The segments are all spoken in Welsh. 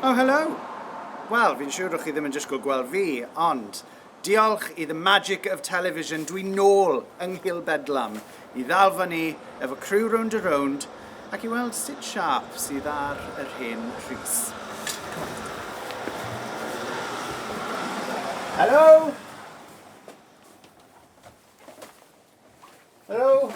Oh, hello! Wel, fi'n siŵr rwy'ch chi ddim yn disgwyl gweld fi, ond diolch i the magic of television, dwi'n nôl yng Nghil Bedlam i ddal fyny efo criw Rownd a Rownd ac i weld sut siâp sydd ar yr hen Rhys. Hello! Hello!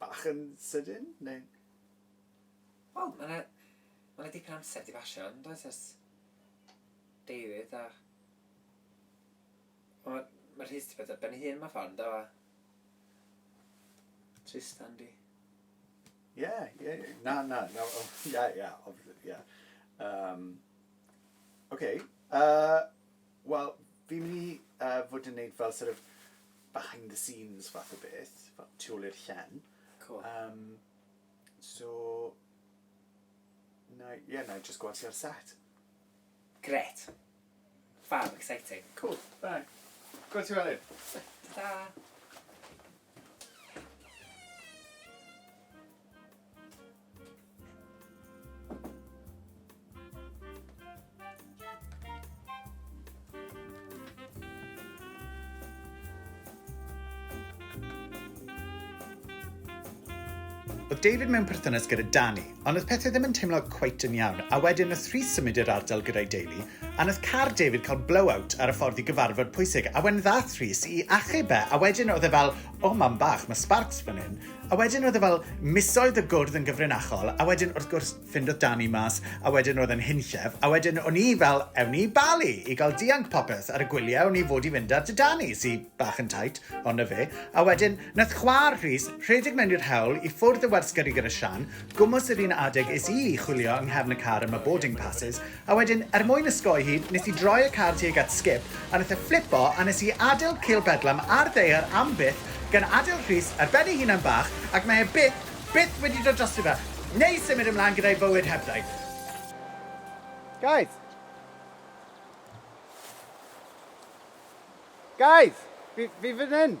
Bach yn sydyn, neu? Wel, ma' 'na, ma' 'na dipyn o amser 'di basio, yn does, ers deuddydd a ma' ma' Rhys 'di bod ar ben ei hun mewn ffordd, yn do, a Trystan 'di... Ie, ie, na, na, na, o, ie, ie, obviously, ie. Yym, ok, yy... Wel, fi'n mynd i yy fod yn neud fel sort of behind the scenes fath o beth, fel tu ôl i'r llen. Cŵl. Yym, so, na i, ie, na i jyst gweld ti ar set. Grêt. Fab, exciting. Cŵl, da. Gwel' ti fory. Ta-ta. Oedd David mewn perthynas gyda Danny, ond oedd pethau ddim yn teimlo cweit yn iawn, a wedyn oedd Rhys symud i'r ardal gyda'i deulu, a wnaeth car David cael blowout ar y ffordd i gyfarfod pwysig, a wedyn ddath Rhys i achub e, a wedyn oedd e fel, o mam bach, mae sparks fan hyn, A wedyn roedd e fel misoedd y gwrdd yn gyfrinachol, a wedyn wrth gwrs ffindodd Dami mas, a wedyn roedd e'n hunllef, a wedyn o'n i fel, ewn ni i Bali i gael dianc popeth ar y gwyliau o'n i fod i fynd ar 'da Dami, sy bach yn tight, ond 'na fe. A wedyn, nath chwa'r Rhys rhedeg mewn i'r hewl, i ffwrdd y warsgyrri gyda Sian, gwmws yr un adeg es i i chwilio yng nghefn y car am y boarding passes, A wedyn, er mwyn ysgoi hi, nes i droi y car tuag at Skip, a nath e flipo, a nes i adeil cil bedlam ar ddaear am byth, gan adeil Rhys ar ben ei hunan bach, ac mae e byth, byth wedi dod drosto fe, neu symud ymlan gyda'i fywyd hebddo. Guys! Guys! Fi, fi fan hyn!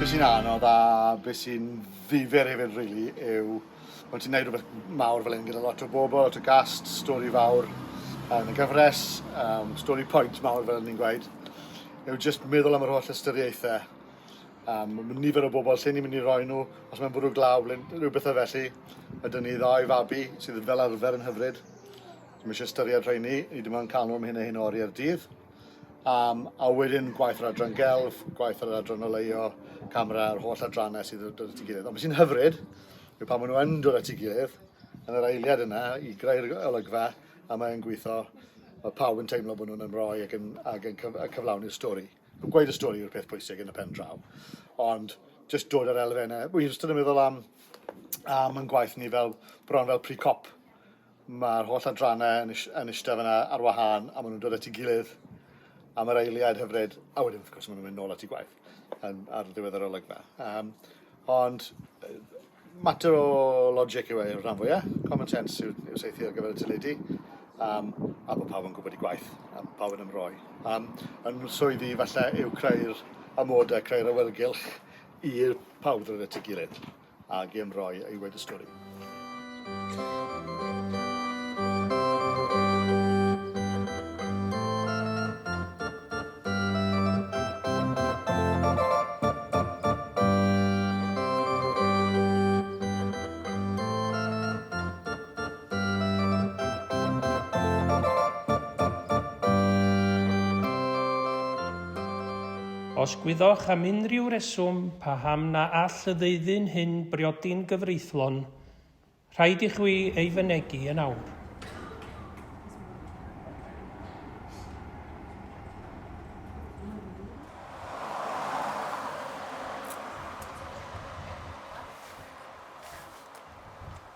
Be sy'n anodd a be sy'n ddifyr hefyd rili yw pan ti'n neud rhywbeth mawr fel hyn gyda lot o bobl, lot o gast, stori fawr yn y gyfres, um, stori pwynt mawr fel ni'n gweud, yw jyst meddwl am yr holl ystyriaethau. Um, mae nifer o bobl lle ni'n mynd i roi nhw, os mae'n bwrw glaw, rhyw bethau felly. Ydyn ni ddau fabi sydd fel arfer yn hyfryd. Mae eisiau ystyried rhoi ni, ni dim ond cael nhw am hyn a hyn o oriau'r dydd. Um, a wedyn gwaith yr adran gelf, gwaith yr adran oleio, camera, yr holl adrannau sydd yn dod at ei gilydd. Ond beth sy'n hyfryd yw pan maen nhw yn dod at ei gilydd, yn yr eiliad yna, i greu'r olygfa, a mae'n gweithio, mae pawb yn teimlo bod nhw'n ymroi ac yn, ac yn cyf, cyflawni'r stori. Gweud y stori yw'r peth pwysig yn y pen draw. Ond just dod ar elfennau. Wy'n ystod yn meddwl am, am yn gwaith ni fel, bron fel pre-cop Mae'r holl adrannau yn, yn eistedd fyna ar wahân a maen nhw'n dod at ei gilydd am yr eiliad hyfryd a wedyn wrth gwrs maen nhw'n mynd nôl at ei gwaith yn, ar ddiwedd yr olygfa. Um, ond mater o logic yw e i'r rhan fwyaf, common sense yw, yw seithi ar gyfer y teledu, um, a bod pawb yn gwybod i gwaith, a pawb yn ymroi. Um, yn swyddi falle yw creu'r amodau, creu'r awyrgylch i'r pawb ddod at ei gilydd. ag e'n rhoi ei wedustori. Os gwyddoch am unrhyw reswm paham na all y ddeuddyn hyn briodi'n gyfreithlon, rhaid i chwi ei fynegi yn awr.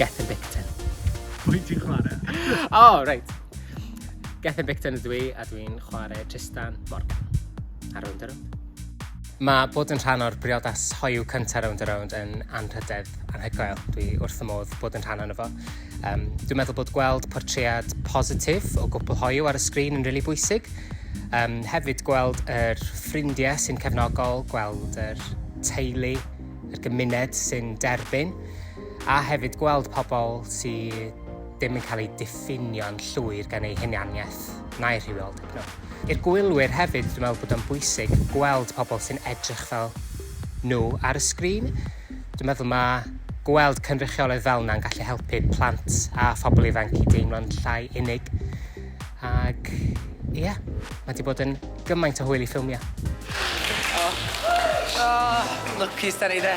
Gethin Bicton. Pwy ti'n chwarae? O, oh, reit. Gethin Bicton ydw i, a dwi'n chwarae Tristan Morgan. Ar rownd ar rownd. Mae bod yn rhan o'r briodas hoyw cyntaf Rownd a Rownd yn anrhydedd anhygoel. Dwi wrth fy modd bod yn rhan ono fo. Um, dwi'n meddwl bod gweld portread positif o gwpl hoyw ar y sgrin yn rili really bwysig. Um, hefyd gweld yr er ffrindiau sy'n cefnogol, gweld yr er teulu, yr er gymuned sy'n derbyn, a hefyd gweld pobl sydd ddim yn cael eu diffinio'n llwyr gan eu hunianiaeth na'i rhywioldeb nhw. I'r gwylwyr hefyd dwi'n meddwl bod o'n bwysig gweld pobl sy'n edrych fel nhw ar y sgrin. Dwi'n meddwl mae gweld cynrychiolydd fel yna'n gallu helpu plant a phobl ifanc i deimlo'n llai unig. Ac ie, yeah, mae wedi bod yn gymaint o hwyl i ffilmio. Oh. Oh, lwcus da ni de.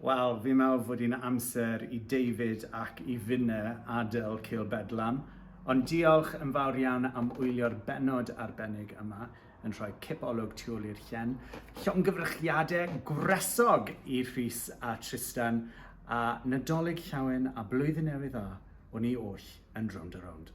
Wel, fi'n meddwl fod hi'n amser i David ac i Finne adael Cil Bedlam, ond diolch yn fawr iawn am wylio'r bennod arbennig yma, yn rhoi cip olwg tu ôl i'r llen. Llongyfrychiadau gwresog i Rhys a Tristan, a Nadolig Llawen a Blwyddyn Newydd Dda, o'n i oll yn Rownd a Rownd.